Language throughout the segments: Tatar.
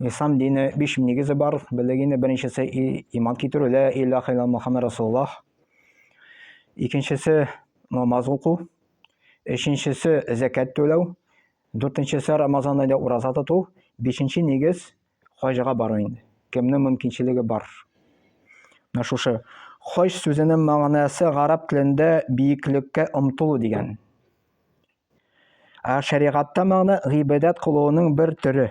Ислам дине биш нигезе бар. Белегине беренчесе иман китерү, лә илаха илла Мухаммад Расулуллах. Икенчесе намаз уку. Өченчесе зәкәт түләү. Дүртенчесе Рамазан айда ураза тоту. Бишенче нигез хаҗга бару инде. Кемнең мөмкинчелеге бар. Менә шушы хаҗ сүзенең мәгънәсе гарәп телендә биеклеккә омтылу дигән. Ә шәригатьтә моны гыйбадәт кылуның бер төре.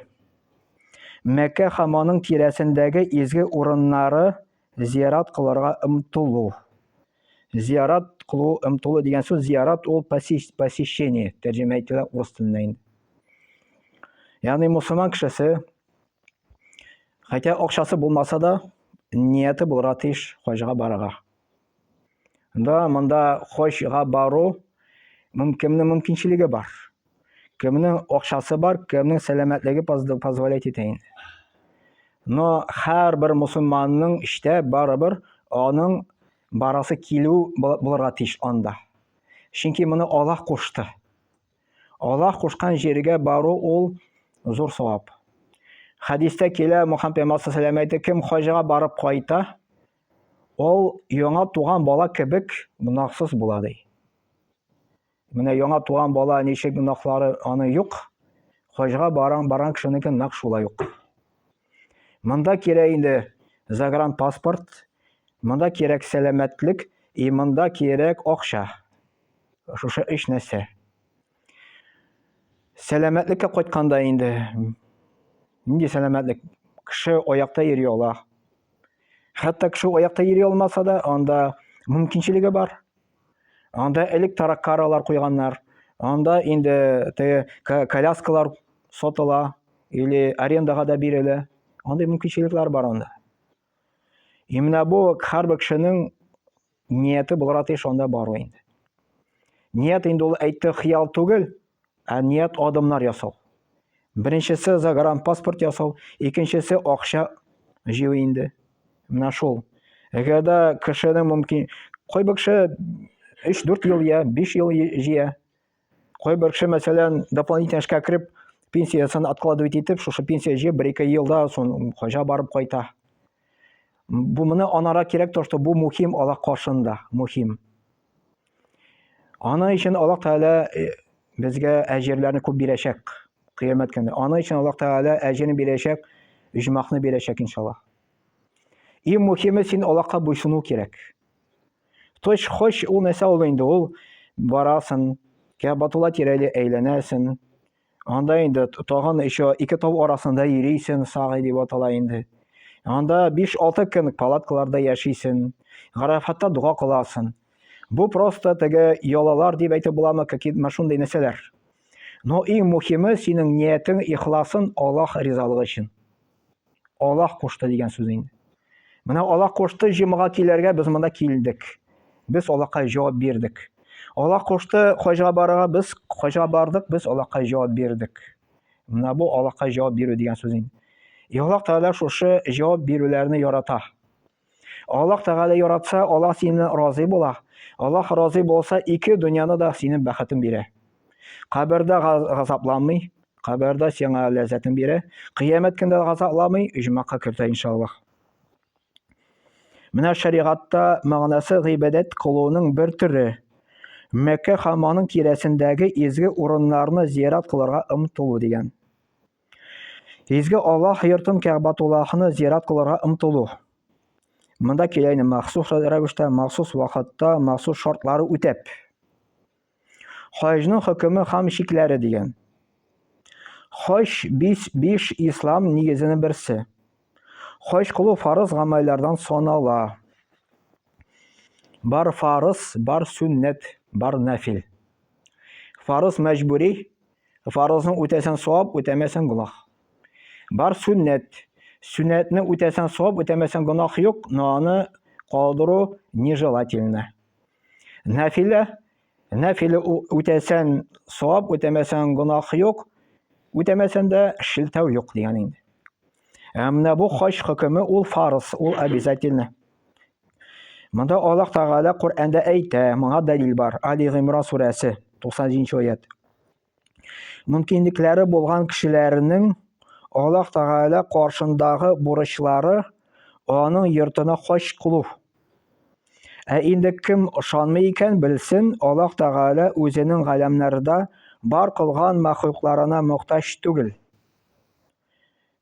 Мәккә һәм аның тирәсендәге изге урыннары зиярат кылырга ымтылу. Зиярат кылу ымтылу дигән сүз зиярат ул посещение тәрҗемә ителә урыс теленнән инде. Ягъни мусульман кешесе хәтта акчасы булмаса да нияте булырга тиеш хаҗга барырга. Да, монда хожга бару мөм кемнең мөмкинчелеге бар. Кемнең акчасы бар, кемнең сәламәтлеге позволять итә инде. Но һәрбер мусульманның эштә барыбер аның барасы килү булырга тиеш анда. Чөнки моны Аллаһ кушты. Аллаһ кушкан җиргә бару ул зур савап. Хәдистә килә Мухаммед пәйгамбәр сәләмә әйтә, кем хаҗга барып кайта, Ул яңа туган бала кебек гөнаһсыз була ди. Менә яңа туган бала ничек гөнаһлары аны юк, хаҗга баран баран кешенеке нак шулай ук. Монда кирәк инде загран паспорт, монда кирәк сәламәтлек и монда кирәк акча. Шушы өч нәрсә. Сәламәтлеккә кайтканда инде нинди сәламәтлек? Кеше аякта йөри ала. Хәтта кеше аякта йөри алмаса да, анда мөмкинчелеге бар. Анда элек тараккаралар куйганнар. Анда инде теге коляскалар сатыла или арендага да бирелә. Андый мөмкинчелекләр бар анда. И менә бу һәрбер кешенең Нияте булырга тиеш анда бару инде. Ният инде ул әйтте хыял түгел, ә ният адымнар ясау. Беренчесе загран паспорт ясау, икенчесе акча җыю инде. Менә шул. Әгәр дә кешенең мөмкин, кайбер кеше 3-4 ел я 5 ел җыя, Кайбер кеше, мәсәлән, дополнительно эшкә кереп, пенсиясын откладывать итеп, шушы пенсия җыеп, бер-ике елда сон хаҗа барып кайта. Бу моны анара кирәк, то, что бу мухим Аллах каршында, мухим. Аны өчен Аллах Тәгалә э, безгә әҗерләрне күп бирәчәк кыямәт көне. Аны өчен Аллах Тәгалә әҗерен бирәчәк, үҗмахны бирәчәк иншаллаһ. Иң мухиме син Аллаһка буйсыну кирәк. Точ хоч ул нәрсә ул инде ул барасын, Кәбатулла тирәли әйләнәсен. Анда инде тагын еще ике тау арасында йөрисен, сагый дип атала инде. Анда 5-6 көн палаткаларда яшисен, Гарафатта дога кыласын. Бу просто теге ялалар дип әйтеп буламы, какие машундай нәрсәләр. Но иң мухиме синең ниятең, ихласың Аллаһ ризалыгы өчен. Аллаһ кушты дигән сүз инде. Менә Аллаһ кушты җомга килергә без монда килдек. Без Аллаһка җавап бирдек. Аллаһ кушты хаҗга барырга без хаҗга бардык, без Аллаһка җавап бирдек. Менә бу Аллаһка җавап бирү дигән сүз инде. И Аллаһ Тәгалә шушы җавап бирүләрне ярата. Аллаһ Тәгалә яратса, Аллаһ синнән разый була. Аллаһ разый булса, ике дөньяны да синең бәхетен бирә. Кабердә газапланмый, кабердә сиңа ләззәтен бирә. Кыямәт көндә газапламый, иҗмакка кертә иншаллаһ. Менә шәригатьтә мәгънәсе гыйбадәт кылуның бер төре. Мәккә һәм аның тирәсендәге изге урыннарны зиярат кылырга омтылу дигән. Изге Аллаһ йортын Кәгъбатуллахны зиярат кылырга ымтылу. Монда киләйне махсус рәвештә, махсус вакытта, махсус шартлары үтәп. Хаҗның хөкеме һәм чикләре дигән. Хаҗ биш, биш ислам нигезенең берсе. Хаҗ кылу фарыз гамәлләрдән санала. Бар фарыз, бар сүннәт, бар нәфил. Фарыз мәҗбүри, Фарызны үтәсәң савап, үтәмәсәң гөнаһ. Бар сүннәт. Сүннәтне үтәсәң савап, үтәмәсәң гөнаһ юк, но аны калдыру нежелательно. Нафилә, нафиле үтәсәң савап, үтәмәсәң гөнаһ юк, үтәмәсәң дә шелтәү юк дигән инде. Ә менә бу хаҗ хөкеме ул фарыз, ул обязательно. Монда Аллаһ Тәгалә Коръәндә әйтә, моңа дәлил бар. Али Гыймран сүрәсе, 90 аят. Мөмкинлекләре булган кешеләрнең Аллаһ Тәгалә каршындагы бурычлары аның йортына хаҗ кылу. Ә инде кем ышанмый икән, белсен, Аллаһ Тәгалә үзенең галәмнәрдә бар кылган мәхлукларына мохтаҗ түгел.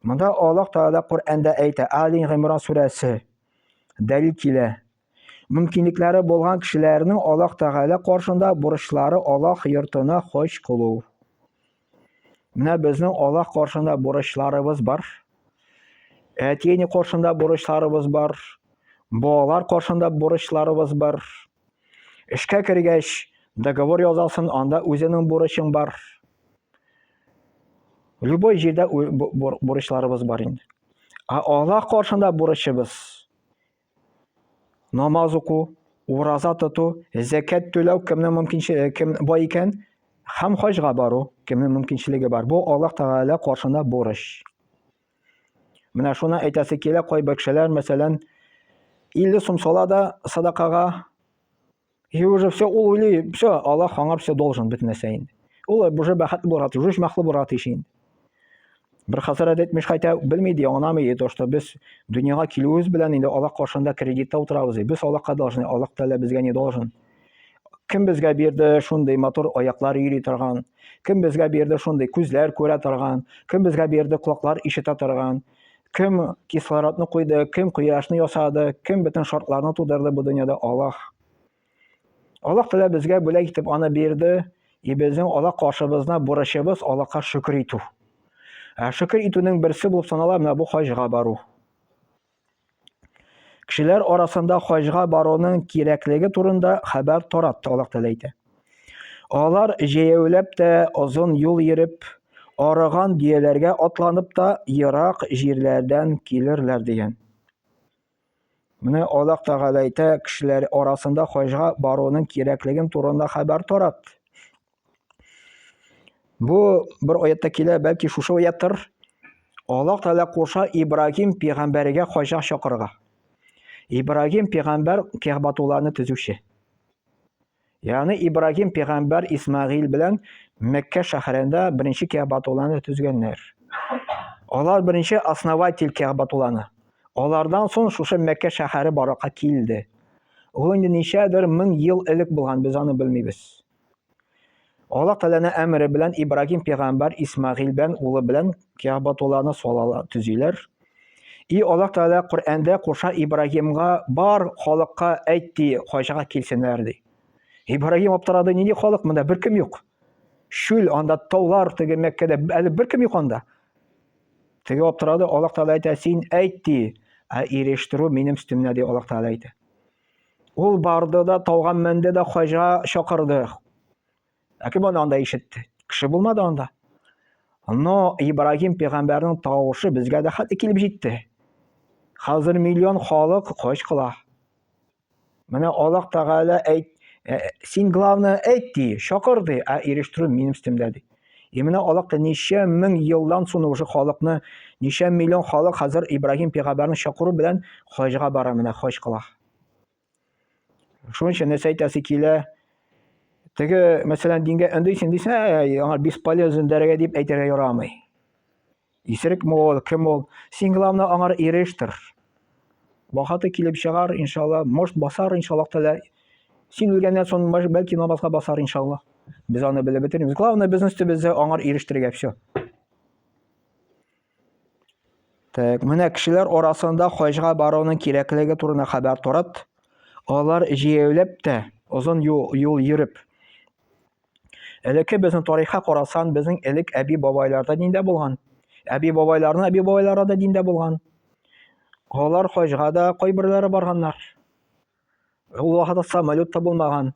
Монда Аллаһ Тәгалә Коръәндә әйтә, Али Гыймран сүрәсе, дәлил килә. Мөмкинлекләре булган кешеләрнең Аллаһ Тәгалә каршында бурычлары Аллаһ йортына хаҗ кылу. Менә безнең Аллаһ каршында бурычларыбыз бар. Әти-әни каршында бурычларыбыз бар. Балалар каршында бурычларыбыз бар. Эшкә кергәч, договор язасын, анда үзенең бурычың бар. Любой җирдә бурычларыбыз бар инде. Ә Алла каршында бурычыбыз намаз уку, ураза тоту, зәкәт түләү кемнең мөмкинчелеге кем бай икән, һәм хаҗга бару кемнең мөмкинчелеге бар. Бу Аллаһ Тәгалә каршында бурыч. Менә шуны әйтәсе килә, кайбер кешеләр, мәсәлән, 50 сум сала да садакага, и уже все, ул уйлый, все, Аллах аңа все должен бит нәрсә инде. Ул уже бәхетле булырга тиеш, үз мәхле булырга тиеш инде. Бер хәзрәт әйтмеш, хәтта белми ди, аңламый ди, то, что без дөньяга килүебез белән инде Аллах каршында кредитта утырабыз ди. Без Аллахка должны, Аллах Тәгалә безгә не должен. кем безгә бирде шундый матур аяклар йөри торган кем безгә бирде шундый күзләр күрә торган кем безгә бирде колаклар ишетә торган кем кислородны куйды кем кояшны ясады кем бөтен шартларны тудырды бу дөньяда аллах аллах тәлә безгә бүләк итеп аны бирде и безнең аллах каршыбызна бурычыбыз аллаһка шөкер итү ә шөкер итүнең берсе булып санала менә бу хаҗга бару Кешеләр арасында хаҗга баруның кирәклеге турында хәбәр тарат Аллаһ Тәгалә әйтә. Алар җәяүләп тә озын юл йөреп, арыган дөяләргә атланып та ерак җирләрдән килерләр дигән. Менә Аллаһ Тәгалә әйтә, кешеләр арасында хаҗга баруның кирәклеген турында хәбәр тарат. Бу бер аятта килә, бәлки шушы аяттыр. Аллаһ Тәгалә куша Ибрагим пигамбәргә хаҗа чакырырга. Ибрагим пигамбәр Кәгъбатулланы төзүче. Ягъни Ибрагим пигамбәр Исмагыйл белән Мәккә шәһәрендә беренче Кәгъбатулланы төзгәннәр. Алар беренче основатель Кәгъбатулланы. Алардан соң шушы Мәккә шәһәре баракка килде. Ул инде ничәдер мең ел элек булган, без аны белмибез. Аллаһ Тәгаләнең әмере белән Ибрагим пигамбәр Исмагыйль бен улы белән Кәгъбатулланы салалар, төзиләр. И Аллаһ Тәгалә Коръәндә куша Ибрагимга бар халыкка әйт ди, хаҗга килсеннәр ди. Ибрагим аптырады, нинди халык монда беркем юк. Шүл анда таулар теге Мәккәдә әле беркем юк анда. Теге аптырады, Аллаһ Тәгалә әйтә, син әйт ди, ә ирештерү минем өстемдә ди Аллаһ Тәгалә әйтә. Ул барды да, тауга менде дә, хаҗа чакырды. Ә кем аны анда ишетте? Кеше булмады анда. Но Ибрагим пәйгамбәрнең тавышы безгә дә хәтта килеп җитте. Хәзер миллион халык хаҗ кыла. Менә Аллаһ Тәгалә әйт, син главное әйт ди, чакыр ди, ә ирештерү минем өстемдә ди. И менә алак ничә мең елдан соң уже халыкны, ничә миллион халык хәзер Ибраһим пигамбәрне чакыру белән хаҗга бара менә, хаҗ кыла. Шуның өчен нәрсә әйтәсе килә? Теге, мәсәлән, дингә өндисең дисә, аңа бесполезен дәрәгә дип әйтергә ярамый. Исерек мо ул, кем ул? Син главное аңар ирештер. Бахаты килеп чыгар, иншалла, может басар, иншалла тәлә. Син үлгәннән соң бәлки намазга басар, иншалла. Без аны белеп бетермибез. Главное безнең өстебездә аңар ирештергә все. Так, менә кешеләр арасында хаҗга баруның кирәклеге турында хәбәр торат. Алар җәяүләп тә, озын юл, юл йөреп, Элекке безнең тарихка карасан, безнең элек әби-бабайларда диндә булган. Әби-бабайларның әби-бабайлары да диндә булган. Алар хаҗга да кайберләре барганнар. Ул вакытта самолет та булмаган.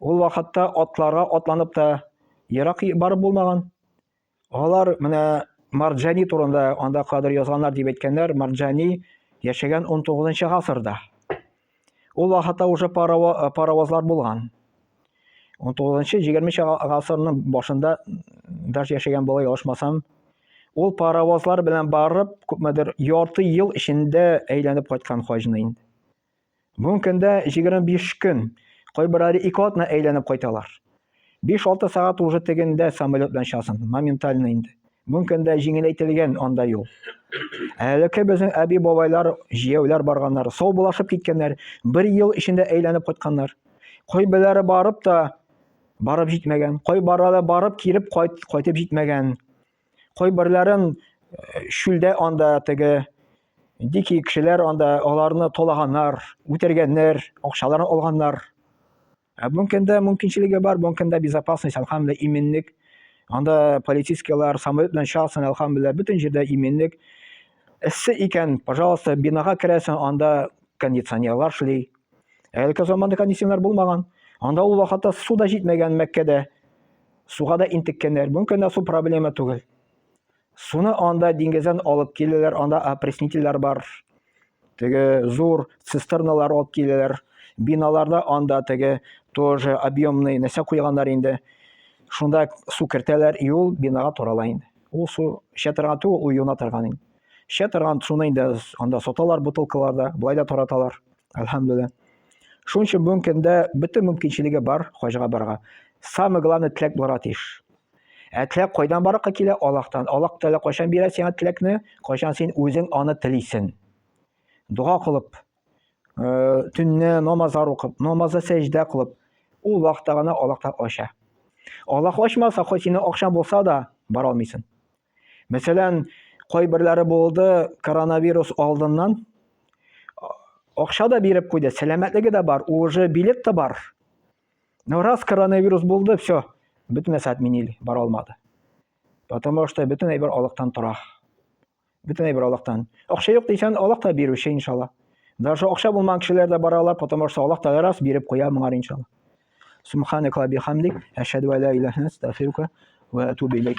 Ул вакытта атларга атланып та ерак барып булмаган. Алар менә Марджани турында анда кадер язганнар дип әйткәннәр. Марджани яшәгән 19 гасырда. Ул вакытта уже паровозлар булган. 19-20 гасырның башында даже яшәгән була ялышмасам. Ул паровозлар белән барып, күпмедер ярты ел эчендә әйләнеп кайткан хаҗны инде. Мөмкин дә 25 көн, кайберләре ике атна әйләнеп кайталар. 5-6 сәгать уже тегендә самолет белән часын, моментально инде. Мөмкин дә җиңеләйтелгән анда юл. Әлеке безнең әби-бабайлар, җияүләр барганнар, сау булашып киткәннәр, бер ел эчендә әйләнеп кайтканнар. Кайберләре барып та барып җитмәгән, кайбарлары барып килеп кайт, кайтып җитмәгән. Кайберләрен э, шүлдә анда теге дикий кешеләр анда аларны толаганнар, үтергәннәр, акчаларын алганнар. Ә бүнкендә мөмкинчелеге бар, бүнкендә безопасность, алхамдулилла, иминлек. Анда полицейскийлар самолет белән чыгасың, алхамдулилла, бөтен җирдә иминлек. Эссе икән, пожалуйста, бинага керәсең, анда кондиционерлар шли. Әлеге заманда кондиционерлар булмаган. Анда ул вакытта су да җитмәгән Мәккәдә. суга да интеккәннәр. Бүген көндә су проблема түгел. Суны анда диңгездән алып киләләр, анда опреснительләр бар. Теге зур цистерналар алып киләләр. Биналарда анда теге тоже объемный нәрсә куйганнар инде. Шунда су кертәләр, и ул бинага тарала инде. Ул су эчә торган түгел, ул юына торган инде. Эчә торган суны инде анда саталар бутылкаларда, болай да тараталар, әлхәмдүлилла. Шуның өчен бүгенге көндә бөтен мөмкинчелеге бар хаҗга барырга. Самое главное теләк булырга тиеш. Ә теләк кайдан барырга килә? Аллаһтан. Аллаһ Тәгалә кайчан бирә сиңа теләкне? Кайчан син үзең аны телисең. Дога кылып, э, төнне намазлар укып, намазда сәҗдә кылып, ул вакытта гына Аллаһ ача. Аллаһ ачмаса, хоть синең акчаң булса да, бара алмыйсың. Мәсәлән, кайберләре булды, коронавирус алдыннан акча да биреп куйды, сәламәтлеге дә бар, уже билет та бар. Но раз коронавирус булды, все, бөтен нәрсә отменили, бара алмады. Потому что бөтен әйбер алыктан тора. Бөтен әйбер алыктан. Акча юк дисәң, алак та бирүче иншалла. Даже акча булмаган кешеләр дә бара алар, потому что алак та раз биреп куя моңар иншалла. Субханак ва бихамдик, ашһаду ла иляха иллә анта, астагфирука ва атубу илейк.